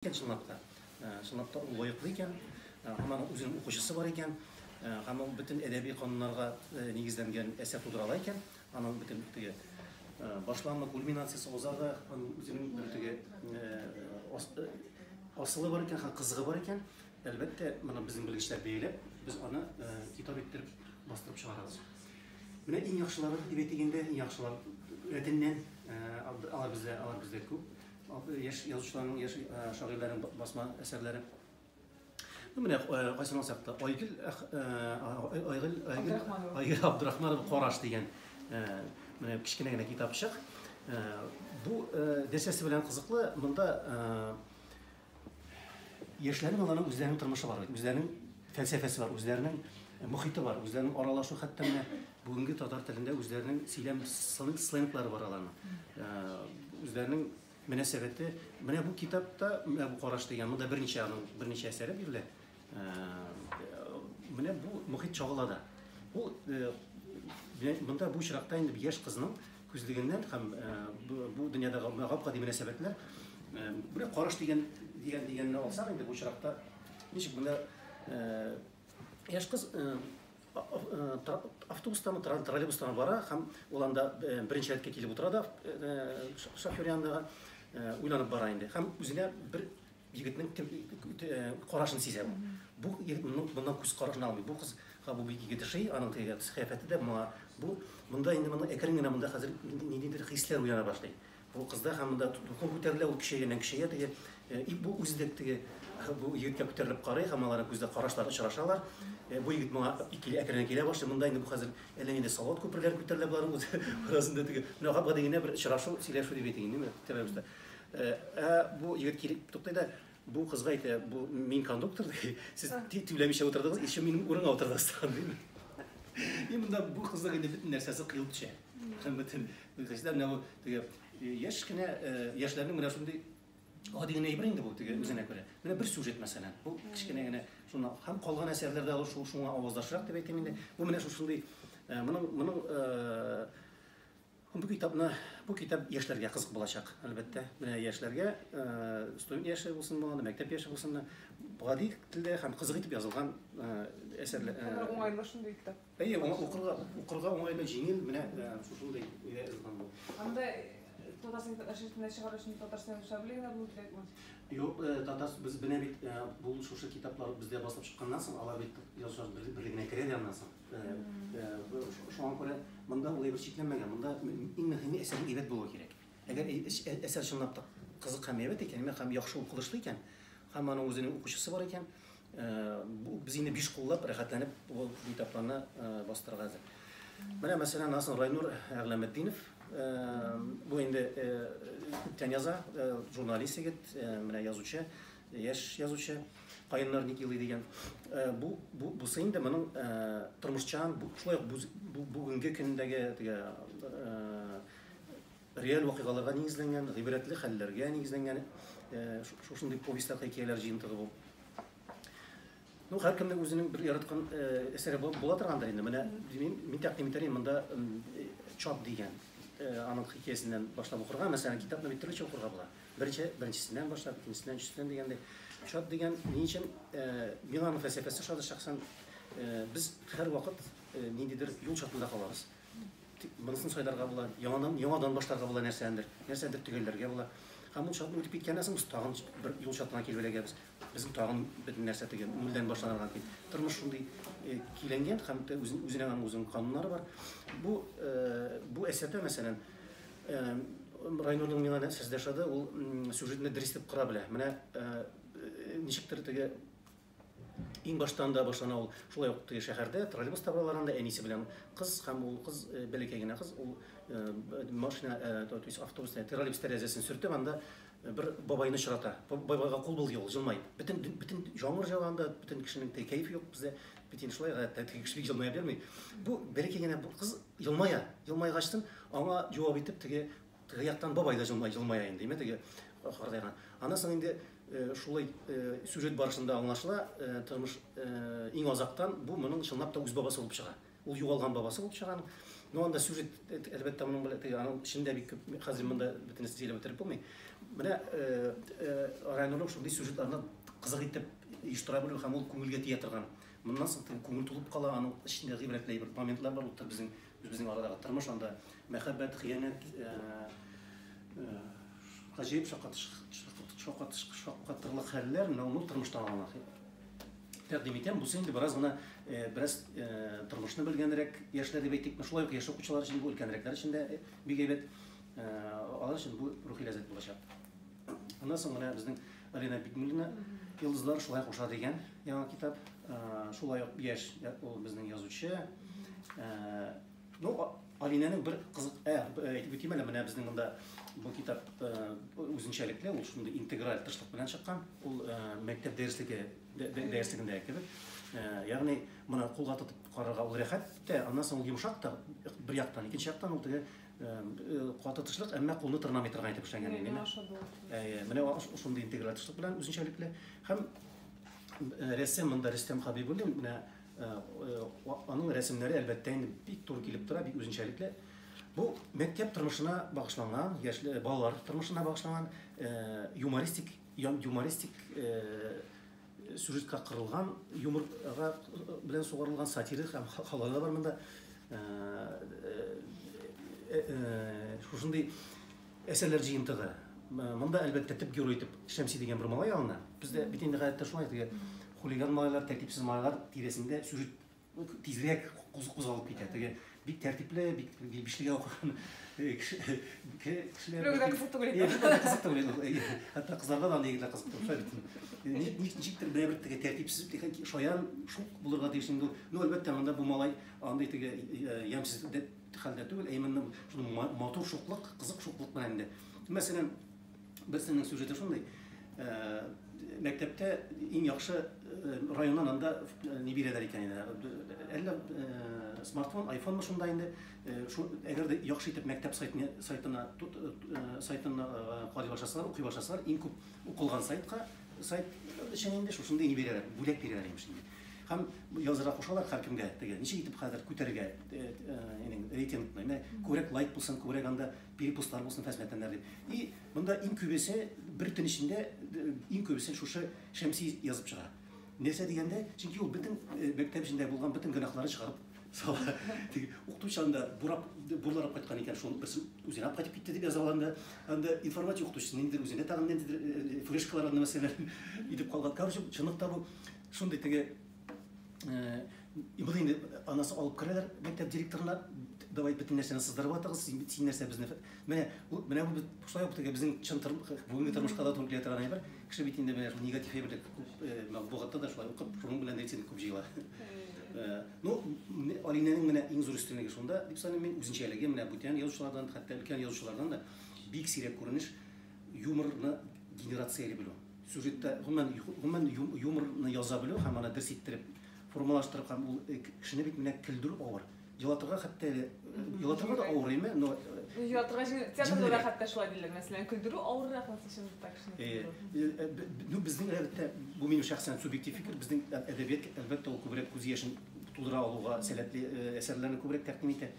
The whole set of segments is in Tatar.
Чынлап та, чынлап та ул лаеклы икән, һәм аның үзенең укучысы бар икән, һәм ул бөтен әдәби кануннарга нигезләнгән әсәр тудыра ала икән, аның бөтен теге башланма кульминациясе узарга, аның үзенең бер теге асылы бар икән һәм кызыгы бар икән, әлбәттә, моны безнең белгечләр бәяләп, без аны китап иттереп бастырып чыгарабыз. Менә иң яхшылары дип әйтик инде, иң яхшылар рәтеннән алар бездә, алар бездә күп. Яшь язучыларның, яшь шагыйрьләрнең басма әсәрләре. Ну, менә кайсыны алсак та, Айгөл Айгөл Айгөл Абдрахманова Караш дигән менә кечкенә генә китапчык. Бу дәсәсе белән кызыклы. Монда Яшьләрнең аларның үзләренең тормышы бар, үзләренең фәлсәфәсе бар, үзләренең мохите бар, үзләренең аралашу хәтта менә бүгенге татар телендә үзләренең сөйләм сленглары бар аларның. Э, үзләренең мөнәсәбәте менә бу китапта, менә бу караш дигән, монда берничә аның берничә әсәре бирелә. Менә бу мохит чагыла да. Бу монда бу очракта инде яшь кызның күзлегеннән һәм бу дөньядагы гап-гади мөнәсәбәтләр бер караш дигән дигән дигәнне алсак инде бу очракта ничек монда яшь кыз автобустан троллейбустан бара һәм ул анда беренче рәткә килеп утыра да шофер янында уйланып бара инде һәм үзенә бер Егетнең кем карашын сизә ул. Бу егет моннан күз карашын алмый. Бу кызга бу бик егет ошый, аның теге кыяфәте дә моңа. Бу монда инде моның әкрен генә монда хәзер ниндидер хисләр уяна башлый. Бу кызда һәм монда дулкын күтәрелә, ул көчәйгәннән көчәя теге. И бу үзе дә теге бу егеткә күтәрелеп карый һәм аларның күздә карашлар очрашалар. Бу егет моңа икеле әкрен килә башлый. Монда инде бу хәзер әллә нинди салат күперләре күтәрелә боларның арасында теге. Менә гади генә бер очрашу, сөйләшү дип әйтик инде, тирә-юньдә. Э, ә бу егет килеп туктый да бу кызга әйтә бу мин кондуктор ди сез түләмичә утырдыгыз еще минем урынга утырдыгыз тагын дими и монда бу кызның инде бөтен нәрсәсе кыел төшә һәм бөтен кешеләр менә бу теге э, яшь кенә э, яшьләрнең менә шундый гади генә әйбер инде бу теге үзенә күрә менә бер сюжет мәсәлән бу кечкенә генә шуны һәм калган әсәрләрдә ул шуңа аваздашрак дип әйтәм инде бу менә шушындый моның моның Бу китапны, бу китап яшьләргә кызык булачак, әлбәттә. Менә яшьләргә, э, студент яше булсын булганда, мәктәп яше булсын да, гади телдә һәм кызык итеп язылган э, әсәрләр. Э, уңайлы шундый китап. Әйе, укырга, укырга уңайлы, җиңел, менә э, шушындый өйдә язылган бу. Анда Татарстан әшәтенә чыгару өчен Татарстан объявление булу кирәкме? Юк, э, татар без бенә бит э, бу шушы китаплар бездә басылып чыкканнан соң, алар бит язучылар бер- берлегенә керә дә аннан соң. Шуңа күрә монда ул әйбер чикләнмәгән. Монда иң мөһиме әсәрнең әйбәт булуы кирәк. Әгәр әсәр чынлап та кызык һәм әйбәт икән, һәм яхшы укылышлы икән, һәм аның үзенең укучысы бар икән, без инде биш куллап рәхәтләнеп бу китапларны бастырырга әзер. Менә мәсәлән, Наср Райнур Әгъләметдинов бу инде күптән яза, журналист егет, менә язучы, Яшь язучы, каеннар ник елый дигән. Э, бу бу бусы инде моның э, тормышчан, шулай ук бүгенге көндәге теге э, реаль вакыйгаларга нигезләнгән, гыйбрәтле хәлләргә нигезләнгән шушындый повестьлар, хикәяләр җыентыгы бу. Ну, һәркемнең үзенең бер яраткан әсәре була торгандыр инде. Менә мин, мин тәкъдим итәр идем монда чат дигән аның хикәясеннән башлап укырга. Мәсәлән, китапны бит төрлечә укырга була. Беренче, беренчесеннән башлап, икенчесеннән, өченчесеннән дигәндәй. Чат дигән ни өчен миңа аның фәлсәфәсе ошады шәхсән. Без һәрвакыт ниндидер юл чатында калабыз. Монысын сайларга була, яңадан, яңадан башларга була нәрсәдер, нәрсәдер төгәлләргә була. Һәм ул чатны үтеп киткәннән соң, тагын бер юл чатына килеп эләгәбез. Безгә тагын бер нәрсә теге нульдән башланырга дип. Тормыш шундый киленгән һәм үзенең аның үзенең кануннары бар. Бу бу әсәрдә, мәсәлән, Райнурның миңа нәрсәсе дә ошады, ул сюжетны дөрес итеп кора белә. Менә ничектер теге иң баштан да башлана ул шулай ук теге шәһәрдә троллейбус табалар анда әнисе белән кыз һәм ул кыз бәләкәй генә кыз ул машина то есть автобус троллейбус тәрәзәсен сөртеп анда Бер бабайны очрата. Бабайга кул бул, ди ул, җылмаеп. Бөтен, бөтен җаңгыр җыланда, бөтен кешенең теге кәеф юк бездә. Бит инде шулай, гадәттә теге кеше бик җылмая бирми. Бу бәләкәй генә бу кыз җылмая. Җылмайгачтын аңа җавап итеп теге теге яктан бабай да җылмая, җылмая инде, димә теге картайган. Аннан соң инде шулай сюжет барышында аңлашыла, тормыш иң азактан бу моның чынлап та үз бабасы булып чыга. Ул югалган бабасы булып чыга аның. Ну, анда сюжет, әлбәттә, моның белән теге аның эчендә бик күп, хәзер монда бөтенесе сөйләп бетереп булмый. Менә э, э, Райнурның шундый сюжетларны кызык итеп оештыра белү һәм ул күңелгә тия торган. Моннан соң теге күңел тулып кала, аның эчендә гыйбрәтле бер моментлар бар, ул безнең үзебезнең арадагы тормыш анда мәхәббәт, хыянәт, э, э, гаҗәеп шаккатыш- шаккатыш- шаккатырлык хәлләр, менә ул тормыштан алган Тәкъдим итәм, бусы инде бераз гына, бераз тормышны белгәнрәк яшьләр дип әйтик, шулай ук яшь укучылар өчен, бу өлкәнрәкләр өчен дә бик әйбәт. Алар өчен бу рухи ләззәт булачак. Аннан соң менә безнең Алина Бикмуллина Йолдызлар шулай куша дигән яңа китап. Шулай ук яшь ул безнең язучы. Ну, Алинәнең бер кызык, ә, әйтеп үтим әле, менә безнең монда бу китап үзенчәлекле, ул шундый интеграль тырышлык белән чыккан. Ул мәктәп дәреслеге дәреслегендә кебек. Ягъни, моны кулга тотып карарга ул рәхәт тә, аннан соң ул йомшак та, бер яктан, икенче яктан ул теге каты тырышлык, әмма кулны тырнамый торган итеп эшләнгән. Әйе, менә шундый интеграль тырышлык белән үзенчәлекле. Һәм рәссам монда Рөстәм Хәбибуллин, менә Аның рәсемнәре әлбәттә инде бик туры килеп тора, бик үзенчәлекле. Бу мәктәп тормышына багышланган, яшьле балалар тормышына багышланган юмористик, юмористик сюжетка кырылган, юморга белән сугарылган сатирик һәм халалар да бар монда. Шушындый Әсәрләр җыентыгы. Монда, әлбәттә, төп герой итеп Шәмси дигән бер малай алына. Бездә бит инде гадәттә шулай, теге хулиган малайлар, тәртипсез малайлар тирәсендә сюжет тизрәк кузгалып китә. Теге бик тәртипле, бик бишлегә укыган э, кешеләр. Бер генә кызык түгел. Кызык түгел. Хәтта кызларга да андый егетләр кызык түгел. Ничектер бер теге тәртипсез, шаян шук булырга тиеш инде. Ну, әлбәттә, монда бу малай андый теге э, ямьсез хәлдә түгел, ә именно шундый матур шуклык, кызык шуклык белән инде. Мәсәлән, берсенең сюжеты шундый, мәктәптә иң яхшы районнан анда не бирәләр икән инде. Әллә смартфон, айфонмы шунда инде, әгәр дә яхшы итеп мәктәп сайтына сайтына сайтына карый башласалар, укый башласалар, иң күп укылган сайтка Сайт өчен инде шушындый ни бирәләр, бүләк бирәләр имеш инде. Һәм язырга кушалар һәркемгә теге. Ничек итеп хәзер күтәрергә инең рейтингны? Менә күбрәк лайк булсын, күбрәк анда перепостлар булсын хезмәттәннәр дип. И монда иң күбесе бер төн эчендә иң күбесе шушы Шәмси язып чыга. Нәрсә дигәндә, чөнки ул бөтен мәктәп эчендә булган бөтен гөнаһларын чыгарып Сала, теге укыту чагында бурап, бурларып кайткан икән, шуның берсен үзенә алып кайтып китте дип яза алганда, анда информатика укытучысы ниндидер үзенә тагын ниндидер э, э, флешкалар анда мәсьәләләр идеп калган. Короче, чынлыкта бу шундый теге э, Моны инде анасы алып керәләр мәктәп директорына, давай бөтен нәрсәне сыздырып атыгыз, син нәрсә безне Менә бу, менә бу шулай ук теге безнең чын бүгенге тормышка да туры килә торган әйбер. Кеше бит инде менә шул негатив әйберлек күп э, матбугатта да шулай укып, шуның белән рейтинг күп җыела. Э, ну, Алинәнең менә иң зур өстенлеге шунда, дип саныйм мин, үзенчәлеге менә бүтән язучылардан, хәтта өлкән язучылардан да бик сирәк күренеш юморны генерация белү. Сюжетта гомумән гомумән юморны яза белү һәм аны дөрес иттереп формалаштырып һәм ул э, кешене бит менә көлдерү авыр. Елатырга хәтта әле елатырга да авыр име, но Елатырга театрда да хәтта шулай диләр, мәсәлән, көлдерү авыррак булса чын так шуны. Э, э, ну безнең әлбәттә бу минем шәхсән субъектив фикер, безнең әдәбият әлбәттә ул күбрәк күз яшен тудыра алуга сәләтле э, әсәрләрне күбрәк тәкъдим итә.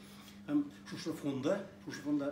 Һәм шушы фонда, шушы фонда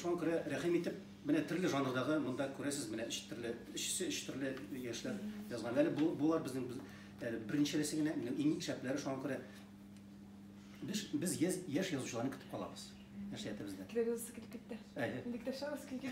Шуңа күрә рәхим итеп, менә төрле жанрдагы монда күрәсез, менә өч төрле, өчесе өч төрле яшьләр язган. Әле бу булар безнең әле беренчелесе генә, менә иң шәпләре шуңа күрә без без яшь язучыларны көтеп калабыз. Нәрсә әйтәбез дә? Киләгез килеп китте. Инде китәшәбез килгән.